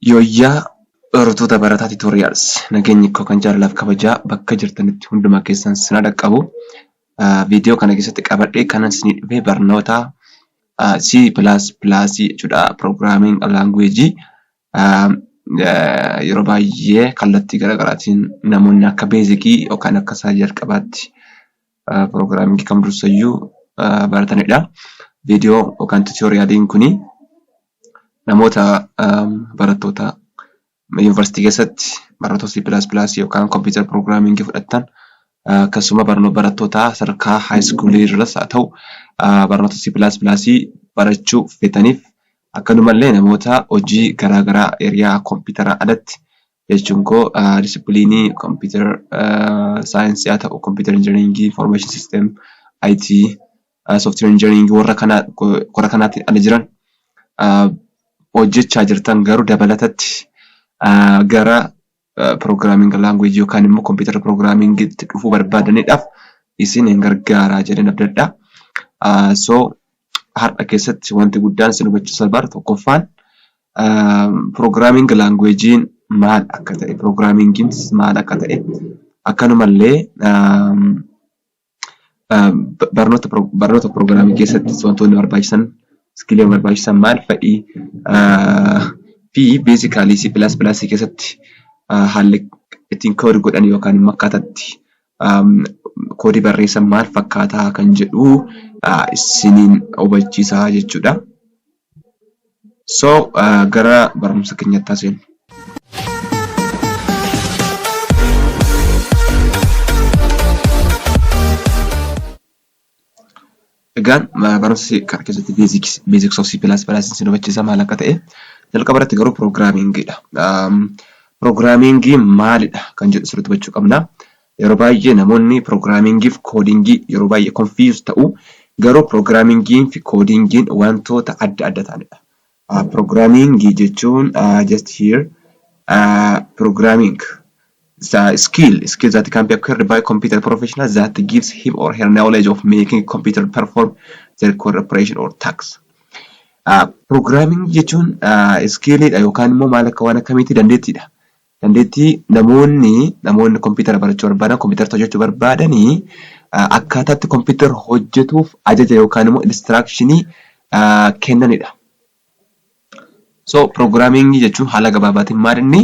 Yooyyaa hordoftoota Barataa Tutorials nageenyi koo kan jaalalaa fi kabajaa bakka jirtanitti hunduma keessan sin haa dhaqqabu. Viidiyoo kana keessatti qabadhee kanan isinii dhufe barnoota C++ jechuudha. Programming language yeroo baay'ee kallattii garaagaraatiin namoonni akka beezikii yookaan akka isa jalqabaatti... Piroogiraamingii kam dursayyuu baratanidha. Viidiyoo yookaan tiyooriyaaliin kun namoota barattoota yuunivarsiitii keessatti barnoota C++ yookaan kompiitara piroogiraamingii fudhattan akkasuma barattoota sadarkaa haayiskuulii irras haa ta'u barnoota C++ barachuu feetaniif akkanumallee namoota hojii garaagaraa kompiitaraan alatti jechuun koo disipiliinii kompiitara saayinsii haa ta'u, kompiitara injinariingii, information system, IT, software engineering warra kana kora kanaatiin ala jiran hojjechaa jirtan garuu dabalatatti gara programming language yookaan immoo kompiitara programming itti dhufuu barbaadaniidhaaf isin hin gargaaraa jedheen abdadha. So har'a keessatti wanti guddaan isin hubachiisa bar tokkoffaan Piroogiraamiing laanguweejiin maal akka ta'e, piroogiraamiingiin maal akka ta'e akkanuma illee barnoota piroogiraamii keessatti wantoonni barbaachisan, iskiiliiwwan barbaachisan maal fa'i? fi beezikaalii C++ keessatti haalli ittiin koodi godhan yookaan immoo akkaataa itti koodii barreessan maal fakkaata kan jedhu isiniin hubachiisa jechuu dha. So gara barumsa keenyatti haseenu. Egaan barumsi kana keessatti beeziks of C pilaas pilaasiin si hubachiisa maal akka ta'e jalqaba irratti garuu piroogiraamiingiidha. Piroogiraamiingii maalidha kan jedhu sirriitti hubachuu qabna. Yeroo baay'ee namoonni piroogiraamiingii fi koodiingii yeroo baay'ee confuse ta'u. Garuu piroogiraamiingiin fi koodiingiin wantoota adda adda ta'anidha. Piroogiraamiingii jechuun just here piroogiraamiing skill skill that can be acquired by computer professional that gives him or her knowledge of making computer perform the required operation or tasks. Piroogiraamiingii jechuun iskiiliidha yookaan immoo maal akka waan akkamiitti dandeettiidha. Dandeettii namoonni namoonni kompiitara barachuu barbaadan, kompiitara irratti hojjechuu barbaadan akkaataa itti kompiitarri hojjetuuf ajaja yookaan immoo instruction kennanidha. So programming jechuun haala gabaabaatiin maal inni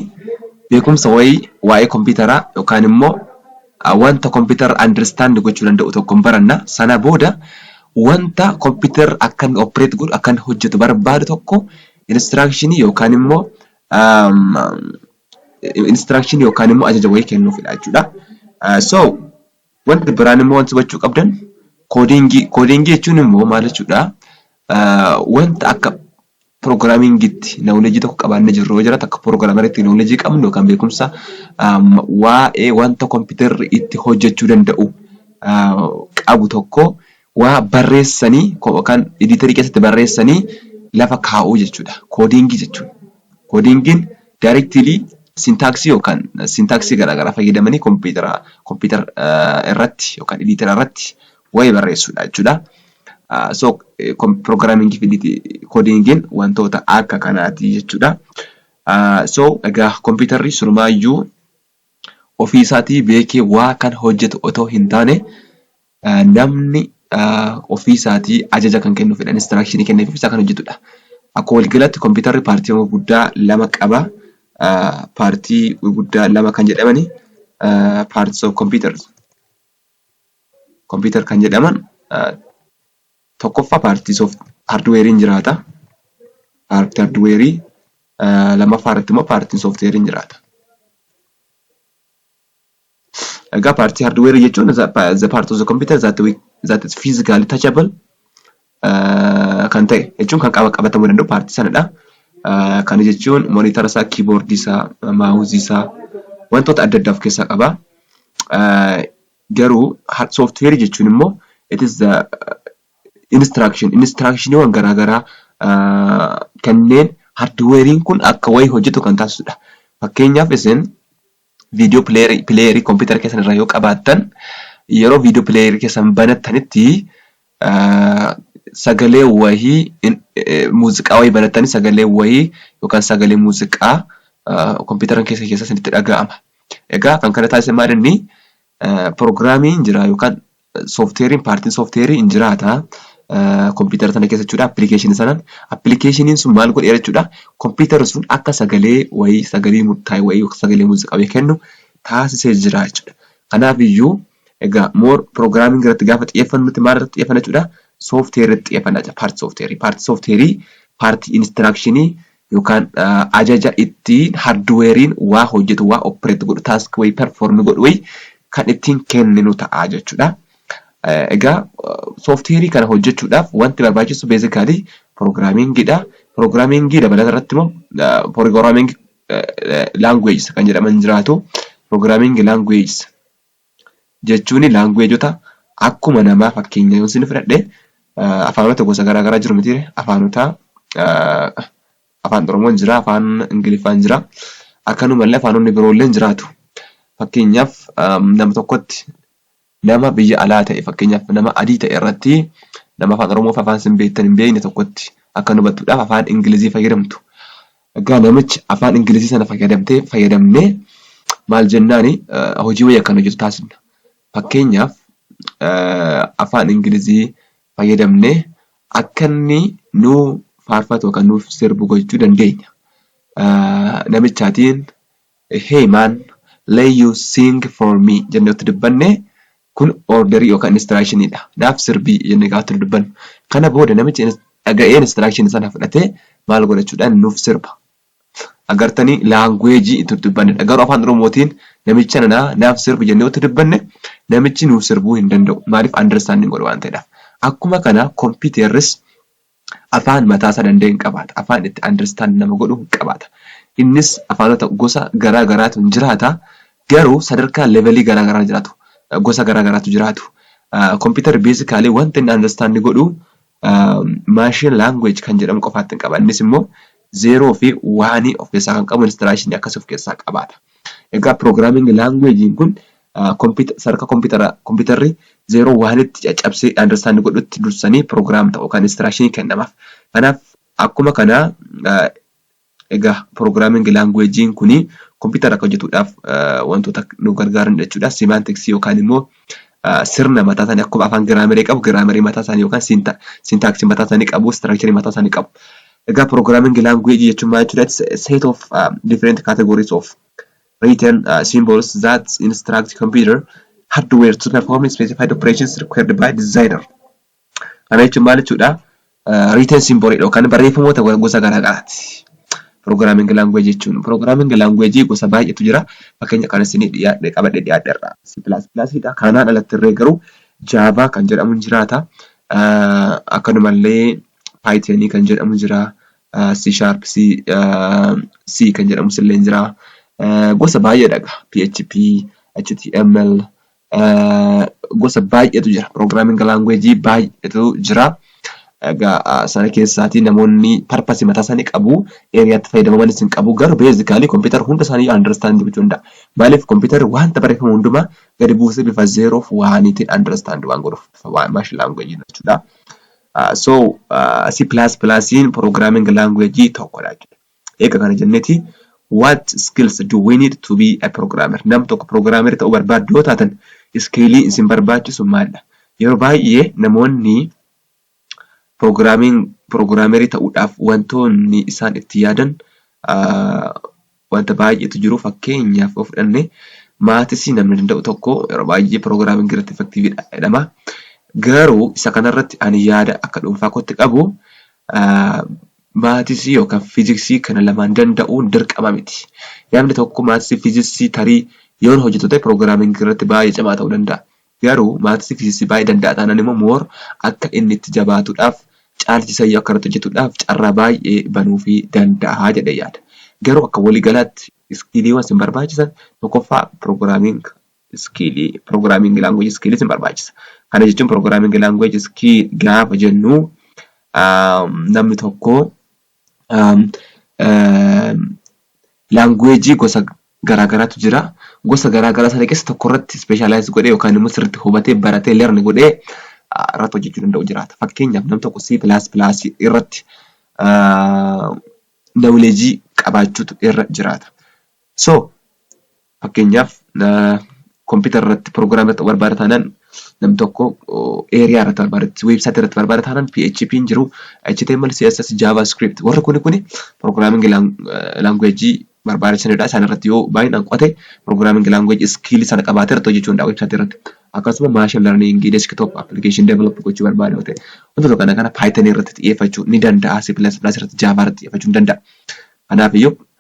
beekumsa wayii waa'ee kompiitaraa yookaan immoo wanta kompiitarri understand gochuu danda'u tokko hin baranna. Sana booda wanta kompiitarri akka inni operate godhu akka inni hojjetu barbaadu tokko instruction yookaan immoo instruction yookaan immoo ajaja wayii kennuufidha jechuudha. So wanti biraan immoo wanti hubachuu qabdan koodiingii koodiingii jechuun immoo maal jechuudha wanta akka piroogiraamiingiitti nawuleejii tokko qabaannee jirru yoo jiraatu akka piroogiraamariitti nawuleejii qabnu yookaan beekumsa waa'ee wanta kompiitarri itti hojjechuu danda'u qabu tokko waa barreessanii kan editerii keessatti barreessanii lafa kaa'uu jechuudha. Koodiingii jechuun koodiingiin directly sintaaksii yookaan sintaaksii garaagaraa fayyadamanii kompiitara kompiitara irratti yookaan editera irratti waa'ee barreessuudha jechuudha. So programming fi koodiingiin wantoota akka kanaati jechuudha. So egaa kompiitarri surmaayyuu ofii isaatii beekee waa kan hojjetu otoo hin taane namni ofii isaatii ajaja kan kennuufidha, instruction kenneef isaa kan hojjetudha. Akkuma waliigalaatti kompiitarri paartiiwwan gurguddaa lama qaba. Paartii gurguddaa lama kan jedhamani parts of computers computer kan jedhaman Tokkoffaa paartii soft hardweeriin jiraata. Paartii hardweerii lammaffaa irratti immoo paartiin softweeriin jiraata. Egaa paartii hardweerii jechuun the part of the computer that, we, that is physically touchable uh, kan ta'e jechuun kan qaba qabatamuu danda'u paartii sanadha. Uh, kana jechuun monitara isaa, kiiboordii isaa, maawuzii isaa wantoota adda addaa of keessaa qaba. Uh, Garuu hard software jechuun immoo it is the instruction instructioniiwwan garaa garaa kanneen hardware'n kun akka wayii hojjetu kan taasisudha. Fakkeenyaaf isin viidiyoo pileeyerii kompiitara keessan irraa yoo qabaattan yeroo viidiyoo pileeyerii keessan banattanitti sagalee wayii muuziqaa wayii banattanii sagalee wayii yookaan sagalee muuziqaa kompiitaran keessan keessa isinitti dhaga'ama. Egaa kan kana taasise maal inni pirogiraamii hin jira yookaan soofteeriin paartiin soofteerii hin jiraata kompiitara sana keessa jechuudha appilikeeshinii sanaan. Appilikeeshiniin sun maal godheera jechuudha kompiitarri sun akka sagalee wayii sagalee murtaa'e wayii yookaan sagalee muuziqaa wayii kennu taasisee jira jechuudha. Kanaafiyyuu Egaa more programming irratti gaafa xiyyeeffannu nuti maal irratti xiyyeeffanna jechuudha? Software irratti xiyyeeffanna jechuudha. Part software. Part software part instruction yookaan ajaja ittiin hardware'n waa hojjetu waa operate godhu task way perform godhu way kan ittiin kenninu ta'a jechuudha. Egaa software kana hojjechuudhaaf wanti barbaachisu basically programming dha. Programming dabalata irratti immoo programming languages kan jedhaman jiraatu. Programming languages jechuun laanguweejota akkuma namaa fakkeenya yoon isiniif fudhadhe afaanota gosa garaa garaa jiru mitiire afaanota afaan oromoon jira afaan ingiliffaan jira akkanumallee afaanonni biroolleen jiraatu fakkeenyaaf nama tokkotti nama biyya alaa ta'e fakkeenyaaf nama adii ta'e irratti nama afaan oromoo fi afaan isin beektan hin beekne tokkotti akka hubattuudhaaf afaan ingilizii fayyadamtu Egaa namichi afaan Ingilizii sana fayyadamtee fayyadamnee maal jennaani hojii wayii akkan hojjetu taasifna. Fakkeenyaaf afaan Ingilizii fayyadamnee akka inni nuu faarfatu yookaan nuuf sirbu gochuu dandeenya. Namichaatiin Hey man, lay you sing for me jennee otti dubbanne kun orderii yookaan instruction dha. Naaf sirbi jennee gaafa itti dubbannu. Kana booda namichi ins dhaga'ee instruction sana fudhatee maal godhachuudhaan nuuf sirba. Agartanii language itti dubbannedha. Garuu afaan Oromootiin namicha nana naaf sirbi jennee otti dubbanne namichi nuuf sirbuu hin danda'u. Maaliif understanding godha waan ta'edhaaf. Akkuma kana computerris Afaan mataasaa danda'e hin qabaata. Afaan itti understand nama godhu hin qabaata. Innis afaanota gosa garaa garaatu hin jiraata. Garuu sadarkaa levelii garaa garaa jiraatu. Gosa garaa garaatu jiraatu. Computer basically wanta inni understand godhu machine language kan jedhamu qofaatti hin qaba. Innis immoo zero fi one of keessaa kan qabu installation akkasii of keessaa qabaata. Egaa programming language kun sadarkaa kompiitara kompiitarri zero one tti caccabsee understand godhutti dursanii program ta'u kan instruction kennamaaf. Kanaaf akkuma kana egaa programming language kun kompiitara akka hojjetuudhaaf wantoota nu gargaaran jechuudha. Semantics yookaan immoo sirna mataa isaanii akkuma afaan giraamerii qabu giraamerii mataa isaanii yookaan sintaaksii mataa isaanii qabu istiraakcharii mataa isaanii qabu. Egaa pirogiraamiingi laanguweejii jechuun maal jechuudha? Set of uh, different categories of written uh, symbols that instruct computer hardware to perform specified operations required by designer. Kana jechuun maal jechuudha? Written symbol dha yookaan barreeffamoota gosa garaa garaati. Programming language jechuun programming language gosa baay'eetu jira. Fakkeenya kan isinii dhiyaadhe qabadhe dhiyaadhe irraa C++ dha. Kanaan alatti irree garuu Java kan jedhamu ni jiraata. Akkanumallee Python kan jedhamu jira. C sharp C, C kan jedhamus illee jira. Gosa baay'eedha egaa PHP, HTML, gosa baay'eetu jira. Programming language baay'eetu jira. Egaa sana keessaatii namoonni purpose mataa isaanii qabu. Area itti fayyadamamanis hin qabu. Garuu basically computer hunda isaanii understand gochuu danda'a. Maaliif computer wanta barreeffamu hundumaa gadi buusee bifa zero fi waaniitiin understand waan godhuuf bifa waan machine language jechuudha. So C++ programming language tokkodha jechuudha. Eega kana jenneti what skills do we need to be a programmer? Nam tokko programmer ta'uu barbaaddu yoo taatan iskiilii isin barbaachisu maaldha? Yeroo baay'ee namoonni programming programmer ta'uudhaaf wantoonni isaan itti yaadan wanta baay'eetu jiru fakkeenyaaf yoo fudhanne maatisii namni danda'u tokko yeroo baay'ee programming irratti effective dha jedhama. Garuu isa kanarratti ani yaada akka dhuunfaa kootti qabu Maatisii yookaan fiiziksii kana lamaan danda'uun dirqama miti. Namni tokko maatisii fiizisii tarii yoon hojjetu ta'e programming irratti baay'ee cimaa ta'uu danda'a. Garuu maatisii fiizisii baay'ee danda'a taanaan immoo more akka inni itti jabaatuudhaaf caalchisayyuu akka irratti hojjetuudhaaf carraa baay'ee banuufii danda'a jedhee yaada. Garuu akka waliigalaatti iskiiliiwwan isin barbaachisan tokkoffaa programming iskiilii programming language iskiilii isin barbaachisa. Kana jechuun programming language iskiil gaafa jennu namni tokko language gosa garaagaraatu jira. Gosa garaagaraa sana keessa tokko irratti specialize godhee yookaan immoo sirriitti hubatee baratee learn godhee irratti hojjechuu danda'u jiraata. Fakkeenyaaf namni tokko C++ irratti knowledge qabaachuutu irra jiraata. So Fakkeenyaaf computer irratti program irratti barbaada taanaan nam tokko area irratti barbaada website irratti barbaada taanaan PHP hin jiru HTML CSS JavaScript warri kuni kuni programming language barbaachisanidha isaan irratti yoo baay'inaan qo'ate programming language skill sana qabaatee irratti hojjechuu danda'a website irratti akkasuma machine learning desktop application develop gochuu barbaada yoo ta'e wantoota kana kana python irratti xiyyeeffachuu ni danda'a C++ irratti java irratti xiyyeeffachuu ni danda'a kanaaf iyyuu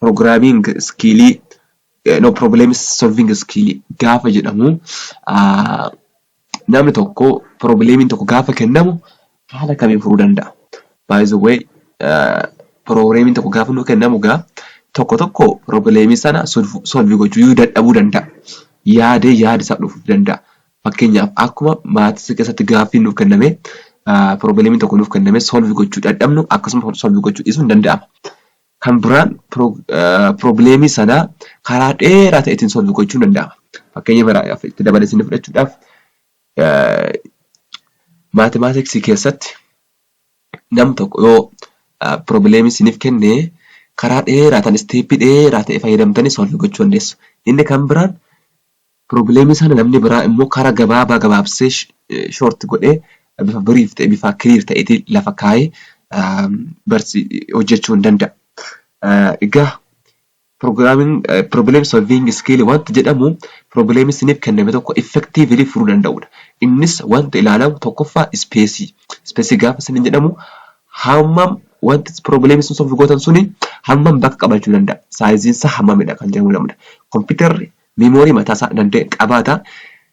Programming skill no problem solving skill gaafa jedhamu namni tokko probleemiin tokko gaafa kennamu haala kamiin furuu danda'a? By the way probleemiin tokko gaafa nu kennamu gaa tokko tokko probleemii sana solve gochuu dadhabuu danda'a. Yaadee yaada isaa dhufu danda'a. Fakkeenyaaf, akkuma maatiisa keessatti gaaffiin nuuf kennamee, piroobileemiin tokko nuuf kennamee solve gochuu dadhabnu akkasuma solve gochuu dhiisuun ni danda'ama. Kan biraan piroobileemii sana karaa dheeraa ta'eetiin solve gochuun ni danda'ama. Fakkeenya biraaf itti dabalee isin fudhachuudhaaf maatimaatiksii keessatti nam tokko yoo piroobileemii isiniif kenne karaa dheeraa ta'an isteeppii dheeraa ta'e fayyadamtanii solve gochuu dandeessu. Inni kan biraan Problem sana namni biraa immoo kara gabaabaa gabaabsee, short, godhee bifa brief ta'e bifa clear ta'eetiin lafa kaa'ee barsi hojjechuu hin danda'a. Egaa programming problem solving skill wanti jedhamu problem isiniif kenname tokko effectively furuu danda'udha. Innis wanti ilaalamu tokkoffaa space. Space gaafa isiniin jedhamu hammam wanti problem isin solve gootan suni hammam bakka qabachuu danda'a. Saayiziin isaa hammamidha kan jedhamu lamudha. Kompiitarri Memory mataasaa danda'e qabaata.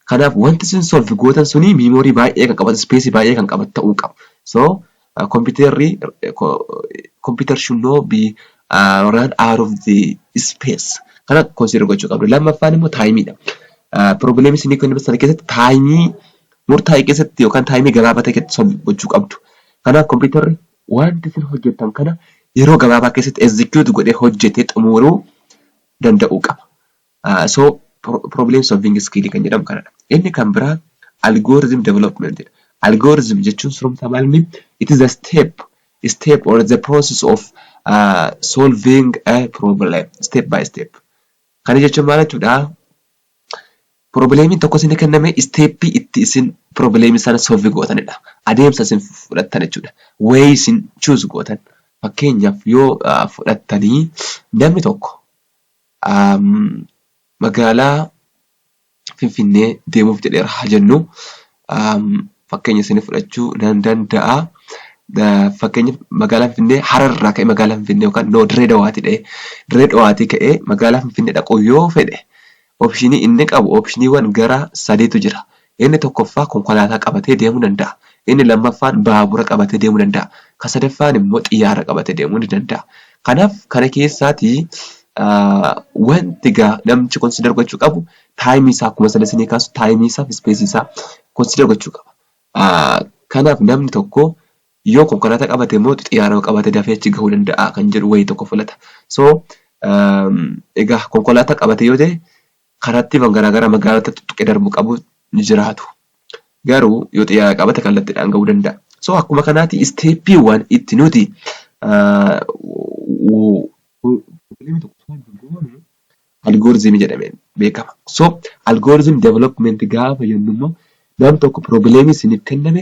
Kanaaf wanti isin solve gootan suni memory baay'ee kan qabatu, space baay'ee kan qabatu ta'uu qaba. So computerri computer should not be uh, run out of the space. Kana consider gochuu qabdu. Lammaffaan immoo taayimiidha. Probleemii isinii kennaman sana keessatti taayimii murtaa'e keessatti yookaan taayimii gabaabaa ta'e keessatti solve gochuu qabdu. Kanaaf kompiitarri wanti isin hojjettan kana yeroo gabaabaa keessatti execute godhee hojjetee xumuruu danda'uu qaba. So problem solving skill kan jedhamu kanadha. Inni kan biraa algorithm development dha. Algorithm jechuun surumtaa maal inni it is a step step or the process of uh, solving a problem step by step. Kana jechuun maal jechuudha? Pirobileemiin tokko isinii kennamee isteeppii itti isin pirobileemii sana solvi gootanidha. Adeemsa isin fudhattan jechuudha. Way isin choose gootan. Fakkeenyaaf yoo fudhattanii namni tokko magaalaa Finfinnee deemuuf jedheera haa jennu. fakkeenya isinii fudhachuu nan danda'a. Fakkeenyaaf magaalaa Finfinnee Harar irraa ka'ee magaalaa Finfinnee yookaan no Dirree Dawaatii dha'ee Dirree Dawaatii ka'ee magaalaa Finfinnee dhaquu yoo fedhe opshinii inni qabu opshiniiwwan gara sadiitu jira. Inni tokkoffaa konkolaataa qabatee deemuu danda'a. Inni lammaffaan baabura qabatee deemuu danda'a. Kan sadaffaan immoo xiyyaara qabatee deemuu ni danda'a. Kanaaf kana keessaatii wanti gaa namchi consider gochuu qabu taayimii isaa akkuma sana isinii kaasu taayimii isaa fi ispeesii isaa konsiidar gochuu qaba. Kanaaf namni tokko yoo konkolaataa qabate immoo xiyyaara yoo qabate dafee achi gahuu danda'a kan jedhu wayii tokko filata. So egaa konkolaataa qabate yoo ta'e karaattiiwwan garaagaraa magaalota tuttuqee darbuu qabu ni jiraatu. Garuu yoo xiyyaara qabate kallattiidhaan gahuu danda'a. So akkuma kanaati isteeppiiwwan itti nuti Algorithm jedhamee beekama. So algorithm development gaafa jennu immoo nam tokko problem isiniif kenname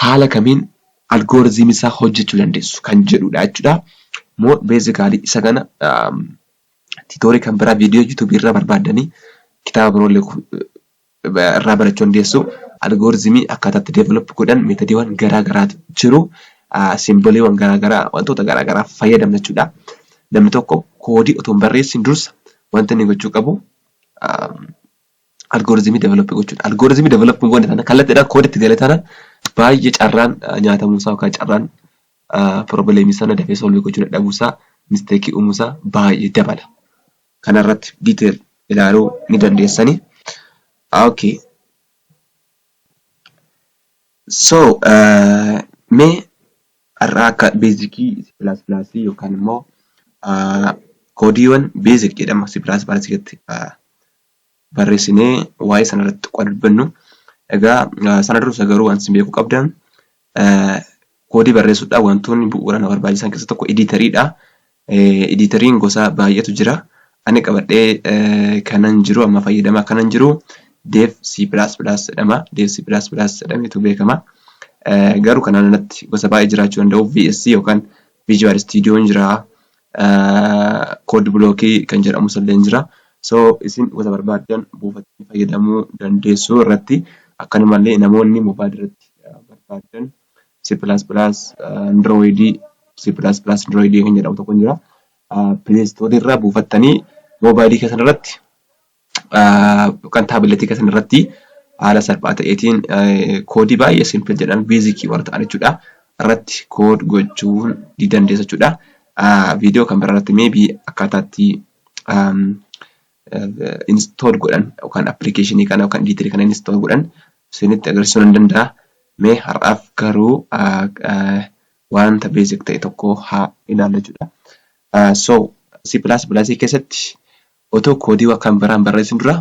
haala kamiin algorithm isaa hojjechuu dandeessu kan jedhudha jechuudha. More basically isa kana um, tutorial kan biraa video YouTube irraa barbaaddanii kitaaba biroo illee irraa barachuu dandeessu. Algoorizimii akkaataa itti develop godhan meetodiiwwan garaa garaatu jiru. Simboliiwwan garaa garaa wantoota garaa garaa fayyadamna jechuudha. Namni tokko koodii otoo hin barreessin dursa wanti inni gochuu qabu algoorizimii develop gochuudha. Algoorizimii develop hin goone taanaan kallattiidhaan koodii itti gale taanaan baay'ee carraan nyaatamuu isaa yookaan carraan piroobileemii sana dafee solvii gochuu dadhabuu isaa misteekii uumuu isaa baay'ee dabala. kana irratti detail ilaaluu ni dandeessani. Okay. So mee har'aa akka beezikii C++ yookaan immoo koodiiwwan beezik jedhama C++ keessatti barreessinee waa'ee sana irratti xiqqoo adda dubbannu. Egaa sana dursa garuu wanti isin beekuu qabdan koodii barreessuudhaaf wantoonni bu'uura na barbaachisan keessa tokko ediitariidha. Ediitariin gosa baay'eetu jira. Ani qabadhee kanan jiru amma fayyadamaa kanan jiru deef C++ jedhama. Deef C++ jedhameetu beekama. Garuu kanaan alatti gosa baay'ee jiraachuu danda'u. VS yookaan Visual Studio jira. Code block kan jedhamus illee hin jira. So isin wanta barbaaddan buufattanii fayyadamuu dandeessu irratti akkanuma illee namoonni mobile irratti barbaaddan C++ Android C++ Android kan jedhamu tokko jira. Play Store irraa buufattanii mobile keessan irratti yookaan taabileetii keessan irratti haala salphaa ta'eetiin koodii baay'ee simpil jedhan beezikii warra ta'an jechuudha. Irratti kood gochuun ni dandeessa jechuudha. Viidiyoo kan biraa irratti meebii akkaataatti instool godhan yookaan appilikeeshinii kana yookaan ediitirii kana instool godhan isinitti agarsiisuu nan danda'a. Mee har'aaf garuu wanta beezik ta'e tokko haa ilaallu jechuudha. So C++ keessatti Otoo koodii wa kan biraa hin barreessin dura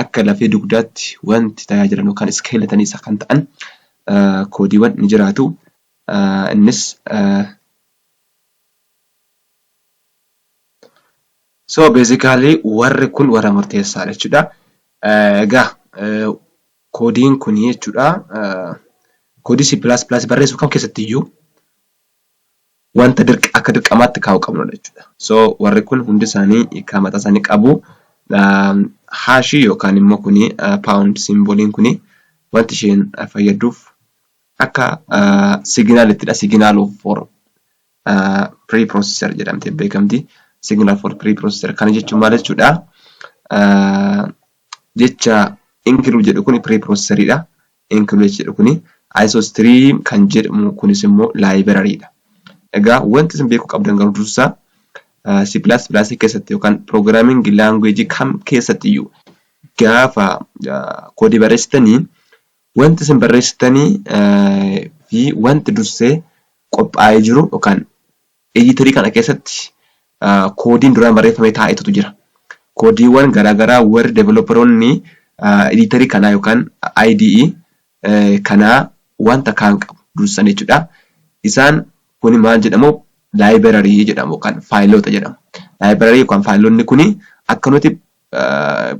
akka lafee dugdaatti wanti tajaajilan yookaan skeleton isa kan ta'an koodiiwan ni jiraatu. Innis So basically warri kun warra murteessaadha jechuudha. Egaa koodiin kun jechuudha koodii C++ barreessu kam keessatti iyyuu wanta dirq akka dirqamaatti kaa'u qabnudha jechuudha. So warri kun hundi isaanii hiikaa mataa isaanii qabu. Haashii yookaan immoo kuni paawundi simboliin kuni wanti isheen fayyadduuf akka siginaalittidha. Siginaal of for pre processor jedhamtee beekamti. Siginaal for pre processor kana jechuun maal jechuudha? Jecha ingiluu jedhu kuni pre processoridha. Includes jedhu kuni isostream kan jedhamu kunis immoo library dha. Egaa wanti isin beekuu qabdan garuu dursaa C++ keessatti yookaan programming language kam keessatti iyyuu gaafa koodii barreessitanii wanti isin barreessitanii fi wanti dursee qophaa'ee jiru yookaan Editor kana keessatti koodiin duraan barreeffamee taa'etutu jira. Koodiiwwan garaagaraa warri developeroonni editor kanaa yookaan IDE kanaa wanta kaan qabu dursan jechuudha. Isaan kuni maal jedhamu library jedhamu yookaan faayiloota jedhamu. Library yookaan faayilonni kuni akka nuti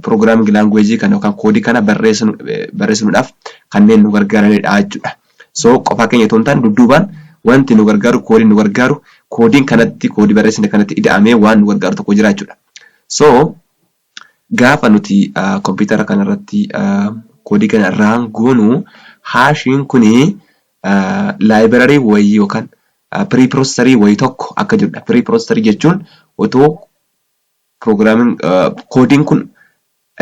Programming language kana yookaan koodii kana barreessinuudhaaf kanneen nu gargaaranidha jechuudha. So qofaa keenya otoo hin taane dudduubaan wanti nu gargaaru koodiin nu gargaaru koodiin kanatti koodii barreessine kanatti ida'amee waan nu gargaaru tokko jira jechuudha. So gaafa nuti kompiitara kanarratti koodii kana raan goonu haashiin kuni laayibirarii wayii yookaan pirii piroosesarii wayii tokko akka jirudha. Pirii piroosesarii jechuun otoo Programming koodiin kun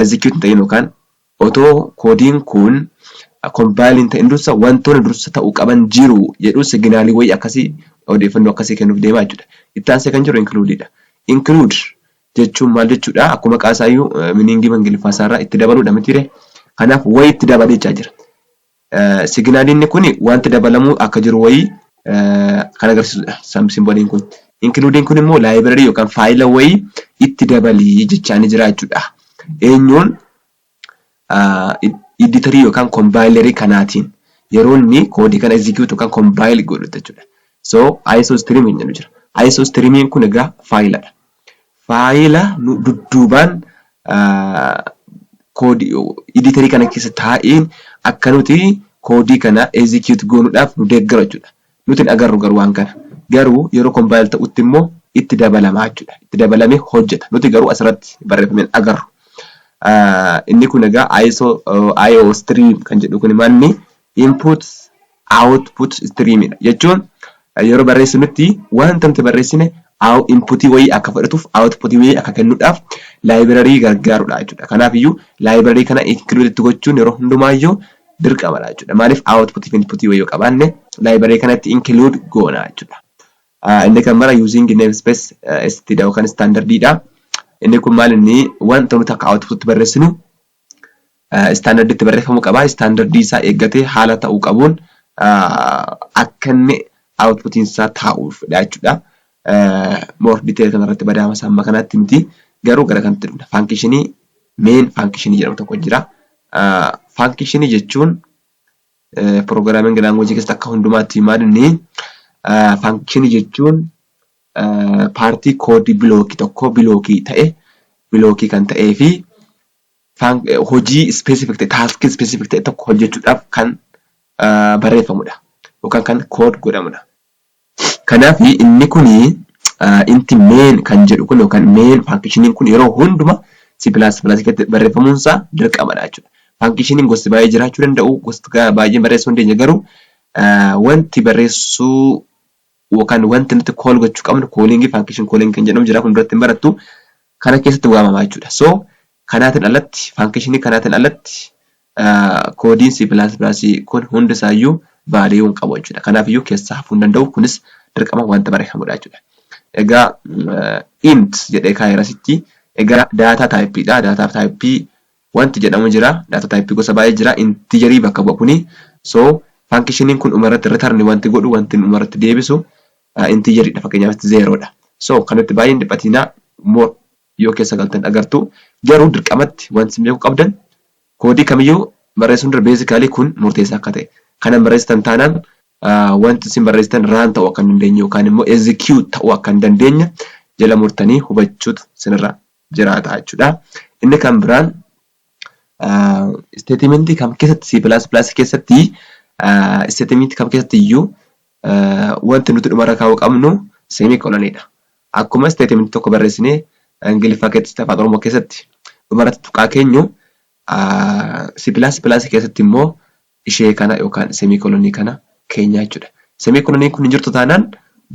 execute hin ta'in yookaan otoo koodiin kun compile hin ta'in dursa wantoonni dursa ta'uu qaban jiru jedhu signaalii wayii akkasii odeeffannoo akkasii kennuuf deema jechuudha. Itti aansee kan jiru include dha. Include jechuun maal jechuudha? Akkuma maqaa isaayyuu meaning ingiliffaa isaarraa itti dabaluudha mitiire? Kanaaf wayi itti dabali jechaa jira. Siginaliinni kun wanti dabalamuu akka jiru wayii kan agarsiisudha. Simboliin kun. Include'n kun immoo library yookaan faayila wayii itti dabali jechaanii jira jechuudha. Eenyuun iditarii yookaan kombaayilarii kanaatiin yeroo inni koodii kana execute yookaan kombaayil godhutti jechuudha. So isostream hin jedhu jira. Isostreamiin kun egaa faayiladha. Faayila nu dudduubaan koodii editerii kana keessa taa'een akka nuti koodii kana execute goonuudhaaf nu deeggaru jechuudha. Nuti hin agarru garuu waan kana. Garuu yeroo compile ta'utti immoo itti dabalama jechuudha. Itti dabalamee hojjeta. Nuti garuu asirratti barreeffame hin agarru. Inni kun egaa ISO IO stream kan jedhu kun maal inni input output stream dha. Jechuun yeroo barreessinutti wanta nuti barreessine input wayii akka fudhatuuf output wayii akka kennuudhaaf library gargaarudha jechuudha. Kanaafiyyuu library kana include itti gochuun yeroo hundumaayyuu dirqamadha jechuudha. Maaliif output fi input wayii yoo qabaanne library kanatti include goona jechuudha. Inni kan bara using namespace st dha yookaan standard dha. Inni kun maal inni wanta nuti akka output barreessinu istaandardiitti barreeffamuu qaba. Istaandardii isaa eeggatee haala ta'uu qabuun akka inni outputiin isaa taa'uufidha jechuudha. More detail kanarratti badaama isaa amma kanaatti miti. Garuu gara kanatti dhufna. Faankishinii main faankishinii jedhamu tokko jira. Faankishinii jechuun pirogiraamiingi laanguweejii keessatti akka hundumaatti hin maadne faankishinii jechuun paartii koodii bilookii tokkoo bilookii ta'e bilookii kan ta'ee fi hojii specific ta'e taaskii specific ta'e tokko hojjechuudhaaf kan barreeffamudha yookaan kan kood godhamudha. Kanaaf inni kun inti main kan jedhu kun yookaan main faankishiniin kun yeroo hunduma C++ keessatti barreeffamuun isaa dirqamadha jechuudha. Faankishiniin gosti baay'ee jiraachuu danda'u gosti baay'ee barreessuu hin dandeenye garuu wanti barreessuu yookaan wanti nuti call gochuu qabnu calling function calling kan jedhamu jira kun duratti hin barattu kana keessatti waamama jechuudha so kanaatiin alatti function kanaatiin alatti koodiin C++ kun hundi isaayyuu value hin qabu jechuudha kanaaf iyyuu keessaa hafuu hin danda'u kunis dirqama wanta barreeffamudha jechuudha egaa int jedhee kaa'eera sitti egaa daataa taayippii dha daataa taayippii Wanti jedhamu jira, data type gosa baay'ee jira, integer bakka bu'a kuni. So, function kun dhuma irratti return wanti godhu, wanti inni dhuma irratti deebisu integer dha, fakkeenyaaf asitti zero dha. So, kanatti baay'ee hin dhiphatiinaa, more yoo keessa galtan agartu. Garuu dirqamatti wanti isin beekuu qabdan koodii kamiyyuu barreessuun dura basically kun murteessaa akka ta'e. Kana hin barreessitan taanaan wanti isin barreessitan run ta'uu akka hin dandeenye yookaan immoo execute ta'uu akka hin dandeenye jala murtanii hubachuutu isinirraa jiraata jechuudha. Inni kan biraan isteetimentii kam keessatti C++ keessatti isteetimentii kam keessatti iyyuu wanti nuti dhumarra kaa'uu qabnu seemikoloniidha. Akkuma isteetimentii tokko barreessinee Ingiliffaa keessatti afaan Oromoo keessatti dhumarratti tuqaa keenyu C++ keessatti immoo ishee kana yookaan semikolonii kana keenyaa jechuudha. Semikoloniin kun hin jirtu taanaan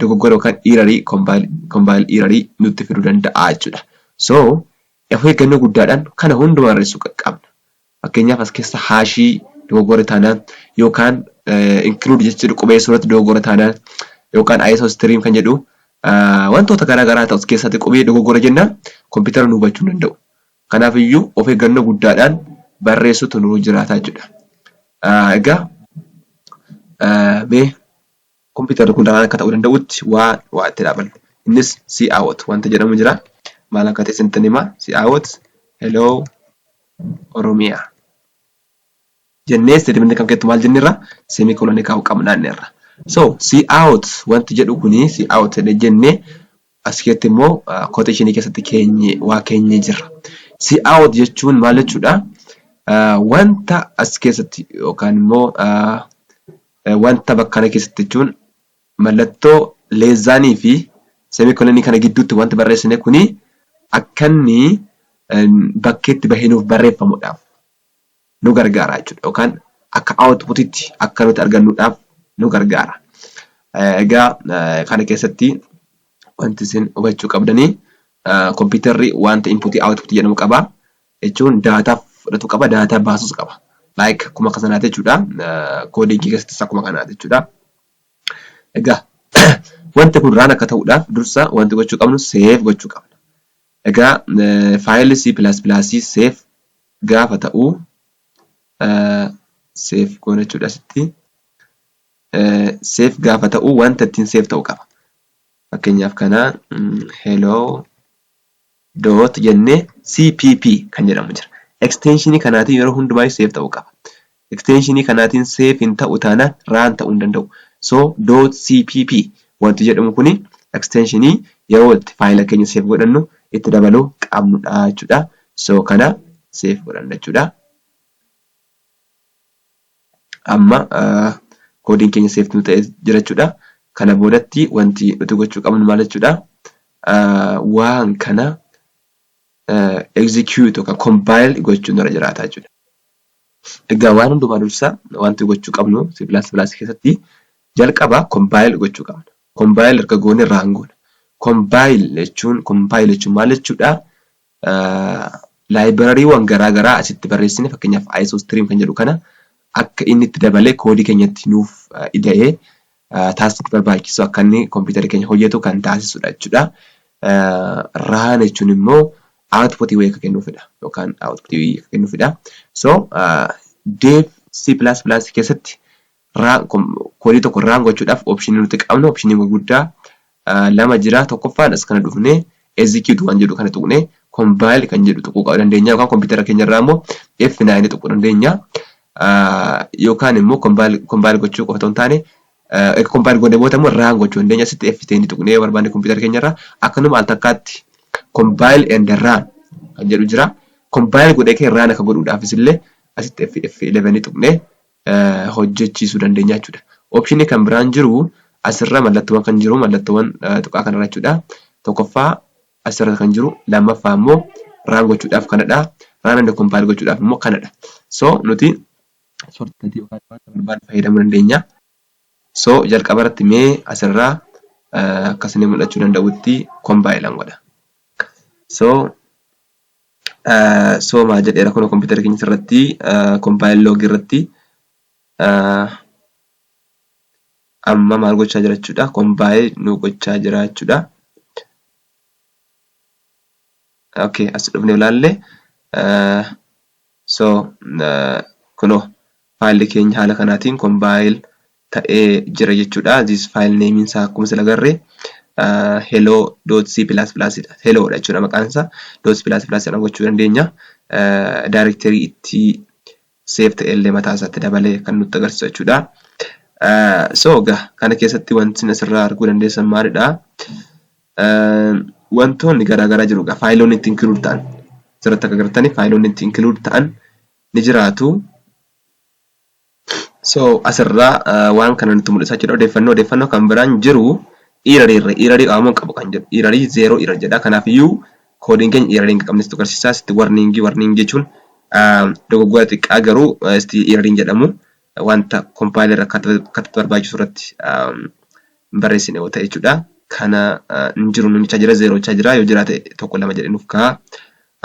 dogoggora yookaan iirarii kombaayil iirarii nutti fiduu danda'a jechuudha. So of eeggannoo guddaadhaan kana hunda barreessuu qaqqabna. Fakkeenyaaf as keessa haashii dogoggora taanaan yookaan include jechuudha qubeessuu irratti dogoggora taanaan yookaan ISO stream kan jedhu wantoota garaa garaa ta'u as keessatti qubee dogoggora jennaan kompiitara nu hubachuu hin danda'u. Kanaaf iyyuu of eeggannoo guddaadhaan barreessuutu nurra jiraata jechuudha. Egaa mee kompiitarri kun ragaan akka ta'uu danda'utti waa waa itti dhaabannu. Innis si out wanta jedhamu jira. Maal akka ta'e isinitti hima. Si out hello oromiyaa. Jennee isteetimentii kan keessatti maal jenneerra seemii kolonii kaa'uu qabna jenneerra. So si out wanti jedhu kuni si out jennee As keessatti immoo quotation keessatti keenye waa keenyee jirra. See out jechuun maal jechuudha? Wanta as keessatti yookaan immoo wanta bakka kana keessatti jechuun mallattoo leezzaanii fi semikolonii kana gidduutti wanti barreessine kuni akka inni bakkeetti bahee nuuf barreeffamudhaaf. nu gargaara jechuudha yookaan akka outputitti akka nuti argannuudhaaf nu gargaara. Egaa kana keessatti wanti isin hubachuu qabdanii kompiitarri wanta inputii output jedhamu qaba jechuun daataa fudhatu qaba daataa baasus qaba. Like akkuma akka sanaati jechuudha koodingii keessattis akkuma kanaati jechuudha. Egaa wanti kun raan akka ta'uudhaaf dursa wanti gochuu qabnu seef gochuu qabna. Egaa faayilii C++ seef gaafa ta'u save goona jechuudha asitti. Save gaafa ta'u wanta ittiin save ta'u qaba. Fakkeenyaaf kana hello dot jennee cpp kan jedhamu jira. Extension kanaatiin yeroo hundumaa save ta'u qaba. Eksteenshinii kanaatiin save hin ta'u taanaan run ta'uu hin danda'u. So dot cpp wanti jedhamu kuni eksteenshinii yeroo itti faayila keenya save godhannu itti dabaluu qabnudha jechuudha. So kana save godhanna jechuudha. Amma koodiin keenya save nu ta'ee jira jechuudha. Kana boodatti wanti nuti gochuu qabnu maal jechuudha? Waan kana execute yookaan compile gochuun irra jiraata jechuudha. Egaa waan hundumaa dursa wanti gochuu qabnu C++ keessatti jalqaba compile gochuu qabna. Compile erga goone run goona. Compile jechuun compile jechuun maal jechuudha? Library'wan garaa garaa asitti barreessine fakkeenyaaf isostream kan jedhu kana akka inni itti dabalee koodii keenyatti nuuf ida'ee task barbaachisu akka inni computer keenya hojjetu kan taasisudha jechuudha. run jechuun immoo output wayii akka kennufidha yookaan output wayii akka kennufidha. so dev C++ keessatti run code tokko run gochuudhaaf option nuti qabnu option gurguddaa lama jira. Tokkoffaan as kana dhufnee execute waan jedhu kana tuqnee compile kan jedhu tuquu qaba dandeenya yookaan kompiitara keenya irraa immoo F9 tuquu dandeenya. Yookaan immoo compile gochuu qofa otoo hin taane erga compile goonee booda immoo run gochuu dandeenya. Asitti F10 tuqnee yoo barbaanne kompiitara keenya irraa akkanuma al takkaatti compile and run kan jedhu jira. Compile godhee kee run akka godhuudhaafis illee asitti F11 tuqnee hojjechiisuu dandeenya jechuudha. Option kan biraan jiru asirra mallattoowwan kan jiru mallattoowwan tuqaa kanarra jechuudha. Tokkoffaa asirra kan jiru lammaffaa immoo raan gochuudhaaf kanadha. Raan and compile gochuudhaaf immoo kanadha. So nuti shortcut yookaan wanta barbaadnu fayyadamuu dandeenya. So jalqaba irratti mee asirraa akkasni mul'achuu danda'utti compile godha. So Soomaa jedheera kunoo kompiitara keenya irratti compile log irratti amma maal gochaa jira jechuudha compile nu gochaa jira jechuudha. Okay as dhufnee ilaalle So kunoo file keenya haala kanaatiin compile ta'ee jira jechuudha. This file name isaa akkuma sila garre hello.c++ dha. Hello dha jechuudha maqaan isaa. Dot plus plus jedhan gochuu dandeenya. Directory itti save ta'e illee mataa isaatti dabalee kan nutti agarsiisu jechuudha. So egaa kana keessatti wanti asirraa arguu dandeessan maalidha? wantoonni garaa garaa jiru egaa faayiloonni itti include ta'an asirratti akka agartanii faayiloonni itti include ta'an ni jiraatu. So asirraa waan kana nutti mul'isa jechuudha odeeffannoo odeeffannoo kan biraan jiru iirarii irra iirarii qabamuun qabu kan jedhu iirarii zeeroo iirar jedha kanaaf iyyuu koodiin keenya iirarii hin qabne sitti agarsiisaa sitti warniingii warniingii jechuun dogoggora xiqqaa garuu iirarii hin jedhamu wanta compiler akka akkatti barbaachisu irratti hin barreessine yoo ta'e jechuudha. Kana hin jiru nuun jechaa jira zeeroo jechaa jira yoo jiraate tokko lama jedhee nuuf ka'a.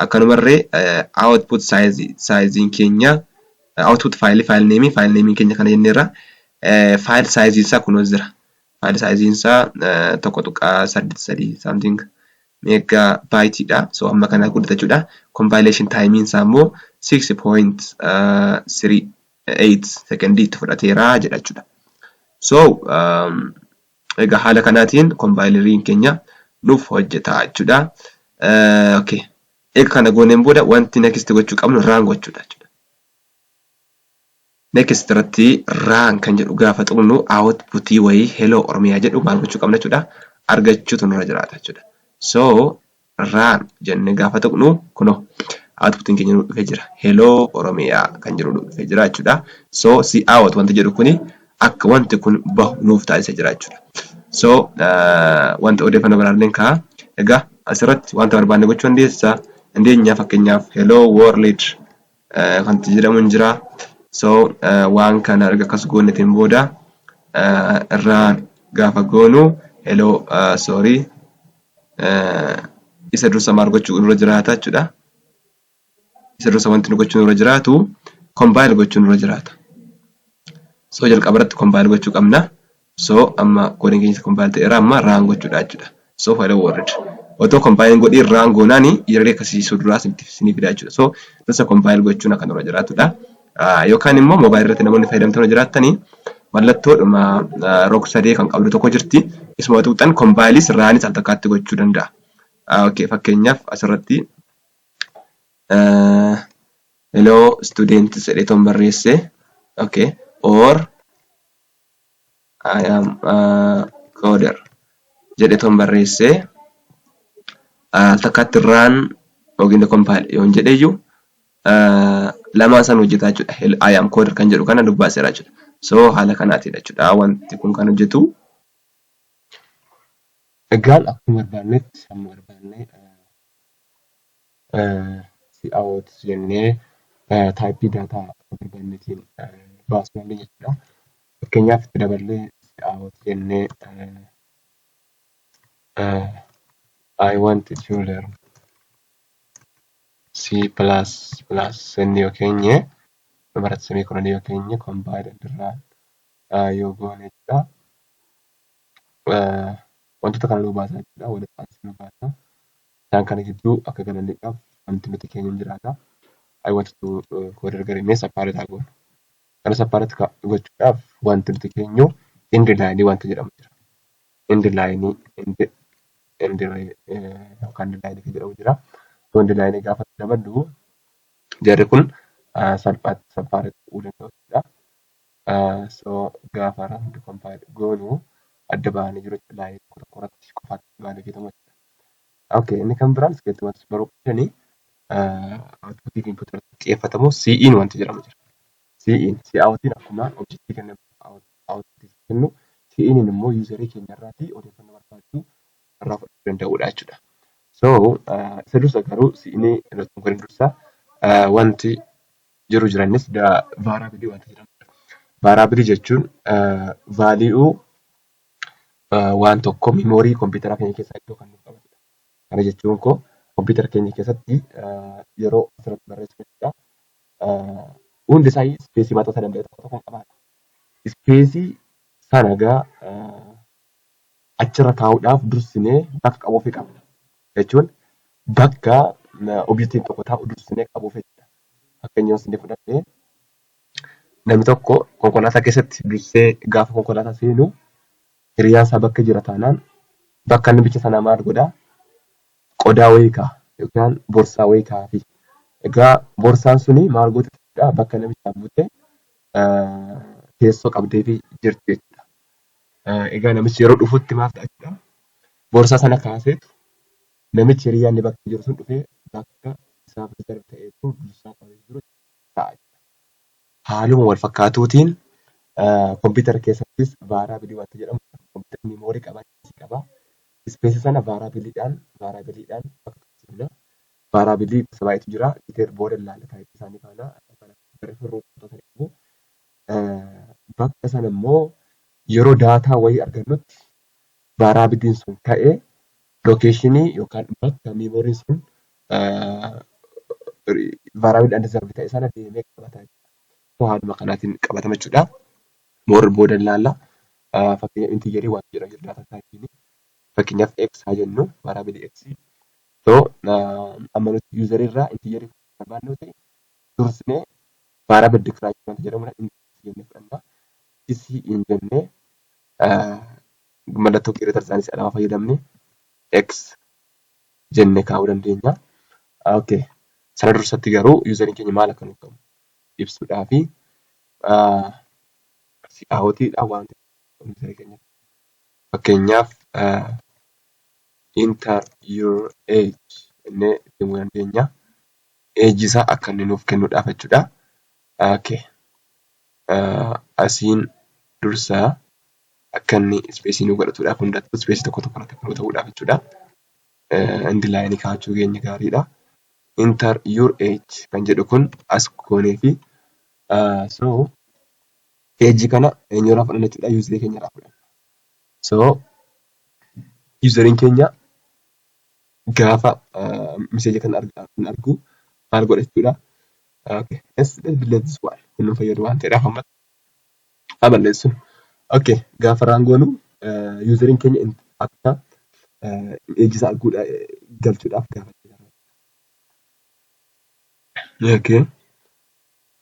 Akkanumarree output size saayiziin keenya output faayilii faayil neemii faayil neemiin keenya kana jenneerra faayil saayiziin isaa kunoo jira. Faayili saayiziin isaa 1.83 something mega byte dha. So amma kana guddata jechuudha. Compilation time isaa immoo 6.38 sekondii itti fudhateera jedha jechuudha. So egaa haala kanaatiin kompaayileriin keenya nuuf hojjeta jechuudha. Okay. Egaa kana gooneen booda wanti next gochuu qabnu raan gochuudha jechuudha. Next irratti run kan jedhu gaafa tuqnu output wayii hello oromia jedhu maal gochuu qabna jechuudha argachuutu nurra jiraata jechuudha. So run jennee gaafa tuqnu kunoo outputiin keenya nu dhufee jira hello oromia kan jedhu nu dhufee jira jechuudha. So si out wanti jedhu kuni akka wanti kun bahu nuuf taasisa jira jechuudha. So wanti odeeffannoo baraalleen kaa egaa asirratti wanta barbaanne gochuu dandeessa dandeenya fakkeenyaaf hello world wanti jedhamu hin jira. So waan kana erga akkas goonetiin booda irraa gaafa goonu hello sorry isa dursa maal gochuu nurra jiraata jechuudha. Isa dursa wanti nu gochuu nurra jiraatu compile gochuu nurra jiraata. So jalqaba irratti compile gochuu qabna. So amma koodiin keenya kompaayil ta'eera amma raan gochuudha jechuudha. So faayila warrid. Otoo kompaayil godhii raan goonaani yeroo akkasii suduraa sinii fidaa jechuudha. So dursa kompaayil gochuun akka nurra jiraatudha. Yookaan immoo moobaayil irratti namoonni fayyadamtoota jiraattanii mallattoodhuma rog sadee kan qabdu tokko jirti. Isuma tuqxan kompaayilis raanis al takkaatti gochuu danda'a. Okay, fakkeenyaaf asirratti hello students jedhee toon barreesse. Okay, or I am a coder jedhe ton barreesse al takkaatti run yookiin compile yoon jedheyyu lamaan san hojjetaa jechuudha. I am coder kan jedhu kana dubbaaseera jechuudha. So haala kanaatiidha jechuudha wanti kun kan hojjetu. Egaan akkuma barbaannetti hamma barbaanne si'aawot jennee taayippii daataa barbaannetiin baasuu dandeenya jechuudha. Fakkeenyaaf itti daballee si'aawot jennee I want to learn C plus plus sennee yoo keenye dhumarratti samii kunanii yoo keenye kombaayida dirraa yoo goone jechuudha. Wantoota kana nuu baasaa jechuudha. Walirraa nu baasaa. Isaan kana gidduu akka galanniidhaaf wanti nuti keenyu hin jiraata. I want to coder garee mee sappaaree taa goonu. Kana sappaaree taa gochuudhaaf wanti nuti keenyu indi laayinii wanta jedhamu jira. Indi laayinii indi indi yookaan indi laayinii kan jedhamu jira. Osoo indi laayinii gaafa daballu jarri kun salphaatti sappaaree ta'uu danda'u jechuudha. So gaafa randi kompaayil goonu adda bahanii jiru jechuudha. Laayinii tokko tokko irratti qofaatti baanee fayyadamu jechuudha. Okay, inni kan biraan iskeelti wanti baruu qabdani outputii fi input irratti xiyyeeffatamu CE'n wanti jedhamu jira. CE'n si'aawwatiin akkuma objektii kenna outputii kennu CE'n immoo yuuzarii keenya irraati odeeffannoo barbaadu irraa fudhachuu danda'uudha jechuudha. So isa dursa garuu CE'n irratti nu godhin dursa wanti jiru jiranis vaaraabilii wanti jedhamu jira. Vaaraabilii jechuun vaalii'uu waan tokko miimoorii kompiitaraa keenya keessaa iddoo kan nuuf qabatudha. Kana jechuun koo kompiitara keenya keessatti yeroo asirratti barreessinu jechuudha. Hundi isaa ispeesii mataa isaa danda'e tokko tokko qabaata. Ispeesii sana egaa achirra kaa'uudhaaf dursinee bakka qabuufii qabna. Jechuun bakka objektiin tokko taa'u dursinee qabuufii jechuudha. Fakkeenya yoo isin fudhadhe Namni tokko konkolaataa keessatti dursee gaafa konkolaataa seenu hiriyaan isaa bakka jira taanaan bakka inni bicha sanaa maal godha? Qodaa wayii kaa'a yookaan borsaa wayii kaa'afi. Egaa borsaan suni maal gooti jechuudha bakka namichaa buutee teessoo qabdeefi jirti jechuudha. Egaa namichi yeroo dhufutti maal ta'a jechuudha? Borsaa sana kaaseetu namichi hiriyaan inni bakka jiru sun dhufee bakka isaaf riizarvi ta'ee jiru dursaa qabee jiru jechuudha. ta'a jechuudha. Haaluma wal fakkaatuutiin kompiitara keessattis vaaraabilii wanti jedhamu kompiitarri miimoorii qaba, ispeesii qaba. Ispeesii sana vaaraabiliidhaan vaaraabiliidhaan bakka tokkotti bula. Vaaraabilii gosa baay'eetu jira. Diteer booda ilaalla taayipii isaanii faana. Barri furruu wantoota ni qabu. Bakka sana immoo yeroo daataa wayii argannutti vaaraabiliin sun ta'ee lookeeshinii yookaan bakka miimooriin sun vaaraawid and zarbi ta'e sana deemee qabata jechuudha. So haaluma kanaatiin qabatama jechuudha. Moor booda ilaalla. Fakkeenya intiijarii waan jedhamu jira daataa taayipiin. Fakkeenyaaf x haa jennu vaaraabili x. So amma nuti yuuzarii irraa intiijarii barbaadnu ta'e dursinee vaaraabil dikiraachuu wanta jedhamudha. Inni x jennee fudhanna. X hin jennee mallattoo kiireetar isaanii si'a lama fayyadamne x jenne kaa'uu dandeenya. Okay. Sana dursatti garuu yuuzariin keenya maal akka nuuf qabu ibsuudhaa fi si'aawatiidha waan yuuzarii keenya fakkeenyaaf enter your age jennee itti himuu dandeenya. Age isaa akka inni nuuf kennuudhaaf jechuudha. Okay. Asiin dursa akka inni ispeesii nu godhatuudhaaf hundattuu ispeesii tokko tokko irratti appiluu ta'uudhaaf jechuudha. and line kaachuu keenya gaariidha. Enter your age kan jedhu kun as goonee fi so age kana eenyurraa fudhanna jechuudha user keenyarraa fudhanna. So useriin keenya gaafa message kana argu maal godha jechuudha. Okay, let's, let's delete this one. Kun nu fayyadu waan ta'eedhaaf amma haa balleessu. Ok gaafa raan goonu yuuzariin keenya akka eeji isaa arguudha galchuudhaaf gaafa Ok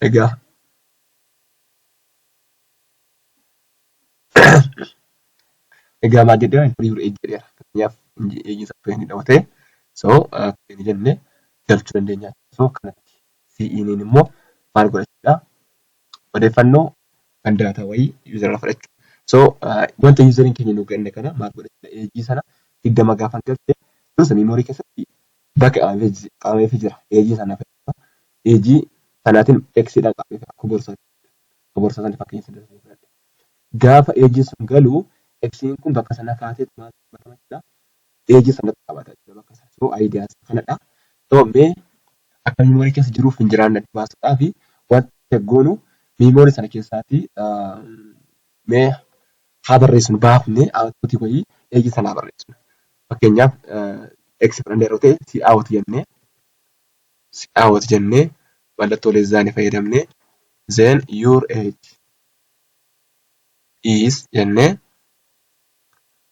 egaa egaa maal jedhee inforii jiru eeji jedheera fakkeenyaaf eeji isaa akka inni dhawatee so akka inni jenne galchuu dandeenya so kanatti CE'n immoo maal godhachuudha odeeffannoo kan daataa wayii user irraa fudhachuu. So wanta userin keenya nu kenne kana maal godhachudha eejii sana digdama gaafan galche iddoo sana memory keessatti bakka qabameefi jira eejii sana fayyadama eejii sanaatiin x dhaan qabameefi akka borsaa akka borsaa sana fakkeenya sana irraa fudhadhe gaafa eejii sun galu x kun bakka sana kaatee maal qabatama jira page sanatti qabata jechuudha bakka sana so idea isaa kanadha so mee akka memory keessa jiruuf hin jiraanne adda baasuudhaa fi wanta check goonu memory sana keessaati mee haa barreessinu baafne output wayii page sana haa barreessinu fakkeenyaaf x fudhannee yeroo ta'e si out jennee si out jennee mallattoo leezzaani fayyadamnee then your age is jennee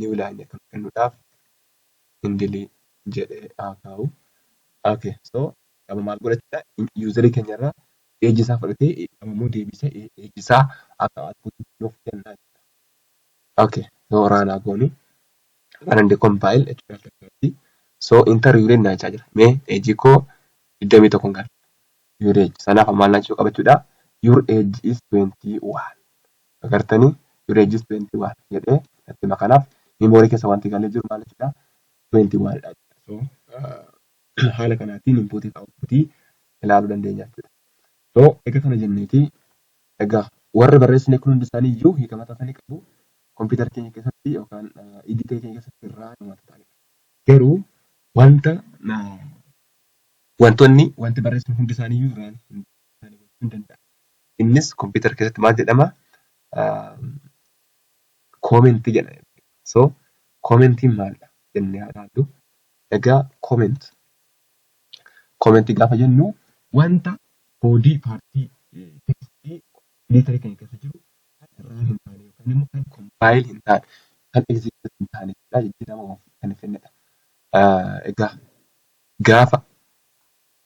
new line kan kennuudhaaf indili jedhee haa kaa'u. Okay, so amma maal godhachuudha? Yuuzarii keenya irraa eejii isaa fudhatee amma immoo deebisee eejii isaa akka output nuuf kennaa jechuudha. Okay, so raan haa goonu. Run and compile jechuudha jalqabatti. So inter yuureen naa jechaa jira. Mee eejii koo 21 galcha. Yuuree sanaaf maal naa jechuu qabachuudha? Your age is 21. Agartanii you register 21 jedhee natti hima kanaaf memory keessa wanti galee jiru maal jechuudha 21 dha jechuudha. So uh, haala kanaatiin input fi output ilaaluu dandeenya jechuudha. So egaa kana jenneeti egaa warri barreessine kun hundi isaanii iyyuu hiika mataa isaanii qabu kompiitara keenya keessatti yookaan iditee keenya keessatti irraa kan wanta ta'anidha. Garuu wanta uh, wantoonni wanti barreessine hundi isaanii iyyuu irraan hin ta'ani gochuu hin danda'a. Innis computer keessatti maal jedhama? Comment jedha. So commentiin maalidha jennee haa ilaallu. Egaa comment comment gaafa jennu wanta body partii tekstii editor keenya keessa jiru kan irraa hin taane yookaan immoo kan compile hin taane kan execute hin taane jechuudha jijjiirama of kan hin fidnedha. Egaa gaafa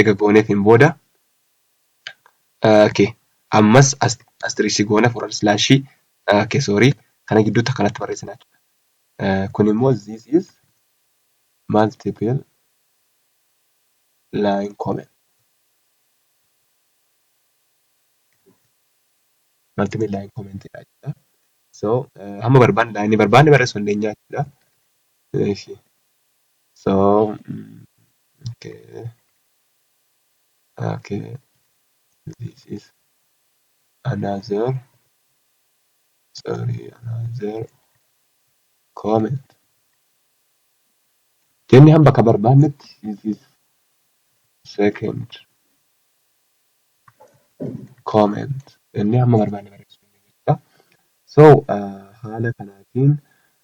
ega gooneetiin booda okay ammas asteriksii goona forward slash okay sorry kana gidduutti akkanatti barreessina jechuudha kun immoo this is multiple line comment multiple line comment dha jechuudha so hamma barbaanne laayinii barbaanne barreessuu dandeenya jechuudha So, mm, okay, okay, this is another, sorry, another comment. Jennee hamba ka barbaannetti, this is second comment. Jennee hamma barbaanne barreessuu ni dandeenya. So, uh, haala kanaatiin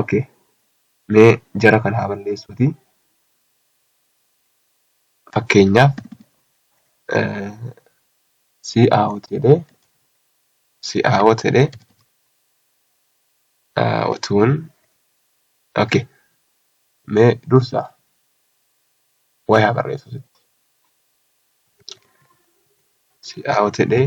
ok mee jara kan haa balleessuuti fakkeenyaaf si aawot jedhee si aawot jedhee otuun ok mee dursa wayaa barreessuuti si aawot jedhee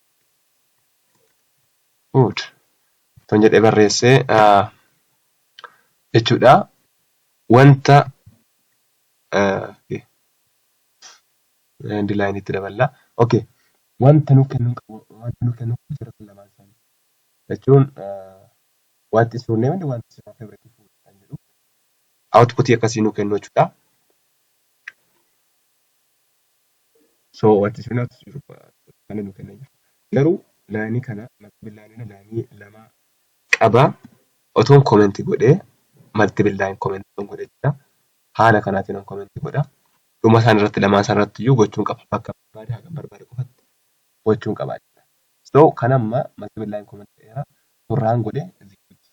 good ton jedhee barreessee jechuudha wanta and line itti daballa okay wanta nu kennu wanta nu kennu jira lamaan isaanii jechuun what is your name and what is your favorite food kan jedhu output akkasii nu kennu jechuudha. So wanti isin hinaafsiisu kana nu kennee jira. Garuu laayinii kana multiple line kana laayinii lama qaba. Otoon comment godhee multiple line comment otoon godhee jira. Haala kanaatiin on comment godha. Dhuma isaan irratti lamaan isaan irratti iyyuu gochuun qaba. Bakka barbaade haga barbaade qofatti gochuun qaba jechuudha. So kan amma multiple line comment godheera. Kun raan godhee execute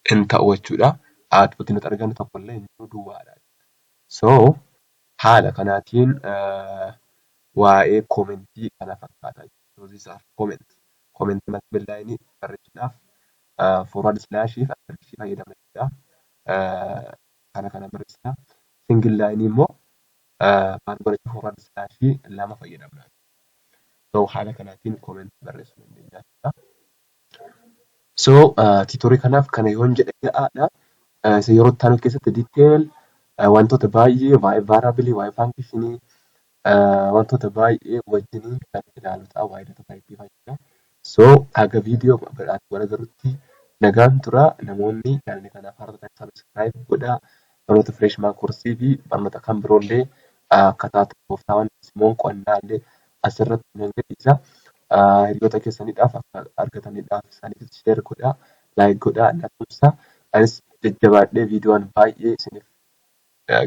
hin ta'u jechuudha. Output nuti argannu tokko illee hin jiru duwwaadha. So haala kanaatiin waa'ee komentii kana fakkaata. So these are comments. Komentii mata billaayinii barreessuudhaaf forward slash fi asterisk fayyadamna jechuudha. Kana kana barreessina. Single laayinii immoo maal godhachuuf forward slash lama fayyadamna. So haala kanaatiin komentii barreessuu dandeenya jechuudha. So tiitorii kanaaf kana yoon jedhe ga'aadha. Isa yeroo itti aanu keessatti detail wantoota baay'ee waa'ee variable, waa'ee function, wantoota baay'ee wajjin kan ilaalu ta'a waa'ee data type fayyadama. So haga video biraatti wal agarrutti nagaan tura namoonni channel kanaaf haaraa taatan subscribe godhaa. Baroota freshman course fi barnoota kan biroo illee akkataa tooftaawwan simoon qo'annaa illee asirratti nan gadhiisa. Hiriyoota keessaniidhaaf akka argataniidhaaf isaaniif share godhaa, like godhaa, na tumsa. Anis jajjabaadhee viidiyoon baay'ee isiniif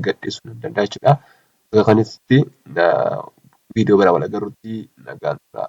gadhiisuu nan danda'a jechuudha. Bakka kanatti viidiyoo biraa wal agarrutti nagaan turaa.